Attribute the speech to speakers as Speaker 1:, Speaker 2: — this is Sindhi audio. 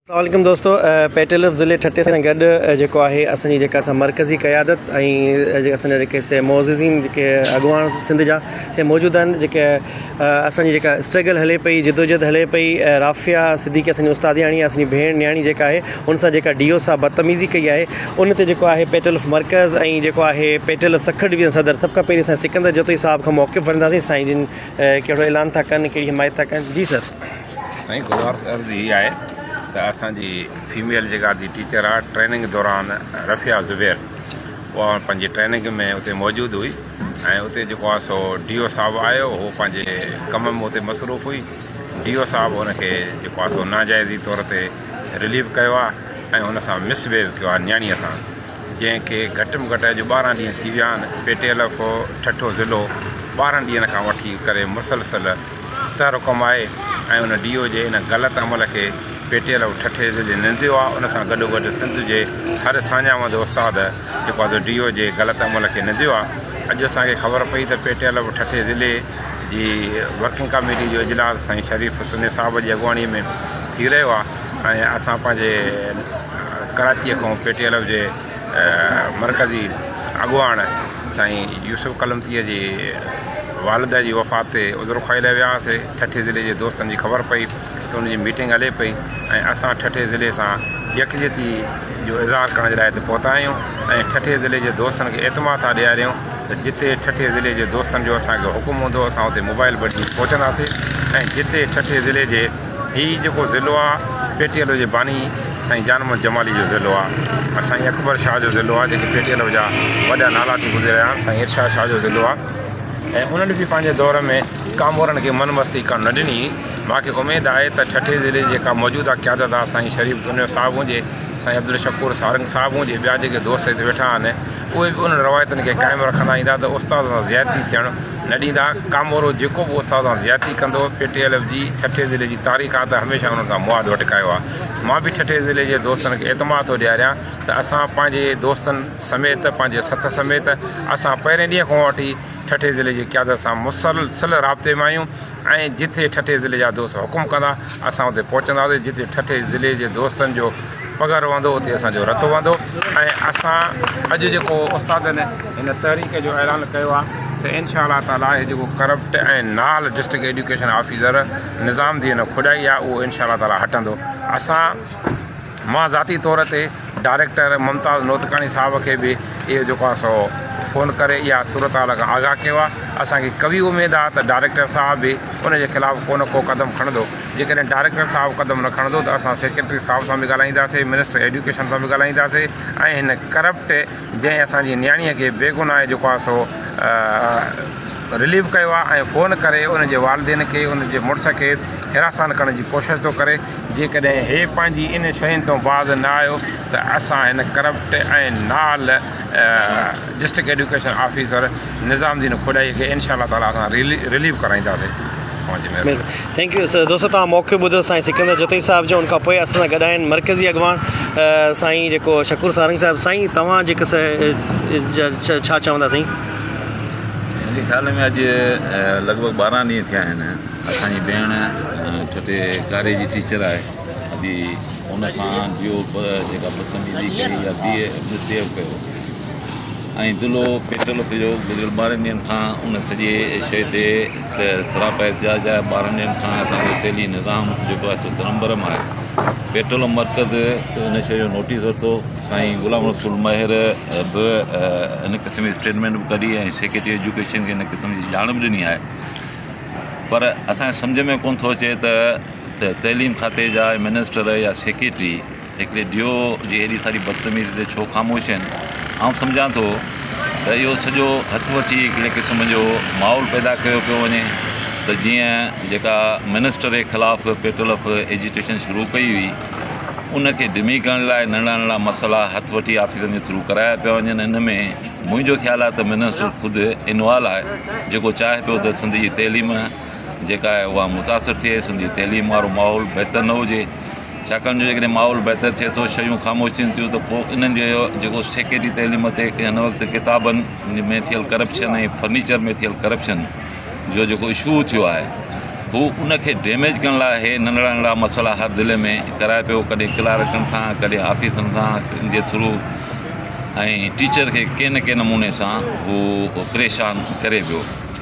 Speaker 1: السلام عليڪم دوستو پيٽلف ضلعي ٺٽي سان گڏ جيڪو آهي اسان جي جيڪا اسان مرڪزي قيادت ۽ جيڪا اسان جا جيڪي سي معززين جيڪي اڳواڻ سنڌ جا سي موجود آهن جيڪي اسان جي جيڪا اسٽرگل هلي پئي جدوجهد هلي پئي رافيا صديقي اسان جي استادياڻي اسان جي ڀيڻ نياڻي جيڪا آهي ان سان جيڪا ڊي او صاحب بدتميزي ڪئي آهي ان تي جيڪو آهي پيٽلف مرڪز ۽ جيڪو آهي پيٽلف سکر ڊويزن صدر سڀ کان پهرين اسان سڪندر جتوئي صاحب کان موقف وٺنداسين سائين جن ڪهڙو اعلان ٿا ڪن ڪهڙي حمايت ٿا ڪن جي سر سائين گذارش
Speaker 2: عرض هي آهي ته اسان جي فيميل جيڪا ادي ٽيچر آهي ٽريننگ دوران رفيع زبير اها پنهنجي ٽريننگ ۾ اتي موجود هئي ۽ اتي جيڪو آهي سو ڊي او صاحب آيو هو پنهنجي ڪم ۾ اتي مصروف هئي ڊي او صاحب هن کي جيڪو آهي سو ناجائزي طور تي رليف ڪيو آهي ۽ هن سان مس بهيو ڪيو آهي نياڻيء سان جنهن کي گهٽ ۾ گهٽ اڄ ٻارهن ڏينهن ٿي ويا آهن P T L F Thatta ضلعو ٻارهن ڏينهن کان وٺي ڪري مسلسل تر ڪمائي ۽ ان ڊي او جي ان غلط عمل کي پيٽيل آف ٺٽي ضلعي ننديو آهي ان سان گڏو گڏ سنڌ جي هر ساڃاهوند استاد جيڪو آهي سو ڊي او جي غلط عمل کي ننديو آهي اڄ اسان کي خبر پئي ته پيٽيل آف ٺٽي ضلعي جي ورڪنگ ڪاميٽي جو اجلاس سائين شريف تني صاحب جي اڳواڻي ۾ ٿي رهيو آهي ۽ اسان پنهنجي ڪراچيء کان پيٽيل آف جي مرڪزي اڳواڻ سائين يوسف قلمطيء جي والده جي وفات تي عذر خواهي لاء ويا هئاسي ٺٽي ضلعي جي دوستن جي خبر پئي ته ان جي ميٽنگ هلي پئي ۽ اسان ٺٽي ضلعي سان يڪجهتي جو اظهار ڪرڻ جي لاء هتي پهتا آهيون ۽ ٺٽي ضلعي جي دوستن کي اعتماد ٿا ڏياريون ته جتي ٺٽي ضلعي جي دوستن جو اسانکي حڪم هوندو اسان اتي موبائل بٽجي پهچنداسي ۽ جتي ٺٽي ضلعي جي هي جيڪو ضلعو آ پيٽيلو جي باني سائين جان محمد جمالي جو ضلعو آ ۽ سائين اڪبر شاھ جو ضلعو آ جيڪي پيٽيلو جا وڏا نالا ٿي گذريا آهن سائين ارشاد شاھ جو ضلعو آ ۽ انهن به پنهنجي دور ۾ ڪامورن کي من مستي ڪرڻ نه ڏني ماکي اميد آهي ته ٺٽي ضلعي جي جيڪا موجوده قيادت آ سائين شريف دنيو صاحب هجي سائين عبدالشڪور سارنگ صاحب هجي ٻيا جيڪي دوست هت ويٺا آهن اهي به انهن روايتن کي قائم رکندا ايندا ته استادن سان زيادتي ٿيڻ نه ڏيندا، ڪامورو جيڪو به استاد سان زيادتي ڪندو، پي ٽي ايل ايف جي ٺٽي ضلعي جي تاريخ آ ته هميشه انهن سان مواد وٽڪايو آ، مان به ٺٽي ضلعي جي دوستن کي اعتماد ٿو ڏياريان ته اسان پنهنجي دوستن سميت پنهنجي سٿ سميت اسان پهرين ڏينهن کان وٺي ٺٽي ضلعي جي قيادت سان مسلسل رابطي ۾ آهيون، ۽ جتي ٺٽي ضلعي جا دوست حڪم ڪندا اسان اتي پهچنداسين جتي ٺٽي ضلعي جي دوستن جو پگهر وهندو اتي اسان جو رت وهندو ۽ اسان اڄ جيڪو استادن هن تحريڪ جو اعلان ڪيو آهي ته انشاء الله تعالٰي هي جيڪو ڪرپٽ ۽ نال district education officer Nizam Din Khadai آهي اهو انشاء الله تعالٰي هٽندو اسان مان ذاتي طور تي ڊائريڪٽر ممتاز نوتڪاڻي صاحب کي به اهو جيڪو آ سو فون ڪري اها صورت حال کان آگاهه ڪيو آ اسانکي قوي اميد آ ته ڊائريڪٽر صاحب به ان جي خلاف ڪو نه ڪو قدم کڻندو جيڪڏهن ڊائريڪٽر صاحب قدم نه کڻندو ته اسان سيڪريٽري صاحب سان به ڳالهائينداسي منسٽر ايڊيوڪيشن سان به ڳالهائينداسي ۽ هن ڪرپٽ جنهن اسان جي نياڻيء کي بيگناهه جيڪو آهي سو رليو ڪيو آهي ۽ فون ڪري ان جي والدين کي ان جي مڙس کي حراسان ڪرڻ جي ڪوشش ٿو ڪري جيڪڏهن هي پنهنجي ان شين تون باز نه آيو ته اسان هن ڪرپٽ ۽ نال district education officer Nizamuddin Khadai کي انشاء الله تعاليٰ اسان رليو ڪرائينداسين
Speaker 1: ٿينڪ يو سر دوستو توهان موقعو ٻڌو سائين سڪندر جوتي صاحب جو ان کان پوء اسان سان گڏ آهن مرڪزي اڳواڻ سائين جيڪو شڪور سارنگ صاحب سائين توهان جيڪو ڇا چوندا سائين
Speaker 3: منهنجي خيال ۾ اڄ لڳ ڀڳ ٻارهن ڏينهن ٿيا آهن اسان جي ڀيڻ ڇوٽي ڪاري جي ٽيچر آهي ادي ان کان ڊيو جيڪا بدتميزي ڪئي يا بي مسبيهيو ڪيو ۽ دلو پيٽل ڪجو گذريل ٻارهن ڏينهن کان ان سڄي شيء تي ته سراپا احتجاج جا ٻارهن ڏينهن کان هتان جو تيلي نظام جيڪو آهي سو ترمبرم آهي پيٽرولم مرڪز ان شيء جو نوٽيس ورتو سائين غلام رسول مهر به ان قسم جي اسٽيٽمنٽ به ڪڍي ۽ سيڪريٽري ايجوڪيشن کي ان قسم جي ڄاڻ به ڏني آهي پر اسانجي سمجھ ۾ ڪونه ٿو اچي ته تعليم کاتي جا منسٽر يا سيڪريٽري هڪڙي ڊيو جي ايڏي ساري بدتميزي تي ڇو خاموش آهن؟ آئون سمجهان ٿو ته اهو سڄو هٿ وٺي هڪڙي قسم جو ماحول پيدا ڪيو پيو وڃي ته جيئن جيڪا منسٽر جي خلاف پيٽل اف ايجيٽيشن شروع ڪئي هئي ان کي ڊمي ڪرڻ لاء ننڍڙا ننڍڙا مسئلا هٿ وٺي آفيسن جي ٿرو ڪرايا پيا وڃن ان ۾ منهنجو خيال آهي ته منسٽر خود انوالو آهي جيڪو چاهي پيو ته سنڌ جي تعليم جيڪا آهي اها متاثر ٿئي سنڌ جي تعليم وارو ماحول بهتر نه هجي ڇاڪاڻ جو جيڪڏهن ماحول بهتر ٿئي ٿو، شيون خاموش ٿين ٿيون ته پوء انهن جو جيڪو سيڪريٽري تعليم تي هن وقت ڪتابن ۾ ٿيل ڪرپشن ۽ فرنيچر ۾ ٿيل ڪرپشن جو جيڪو اشو ٿيو آهي هو ان کي ڊيميج ڪرڻ لاء هي ننڍڙا ننڍڙا مسئلا هر ضلعي ۾ ڪرائي پيو ڪڏهن ڪلارڪن سان ڪڏهن آفيسرن سان جي ٿرو ۽ ٽيچر کي ڪنهن نه ڪنهن نموني سان هو پريشان ڪري پيو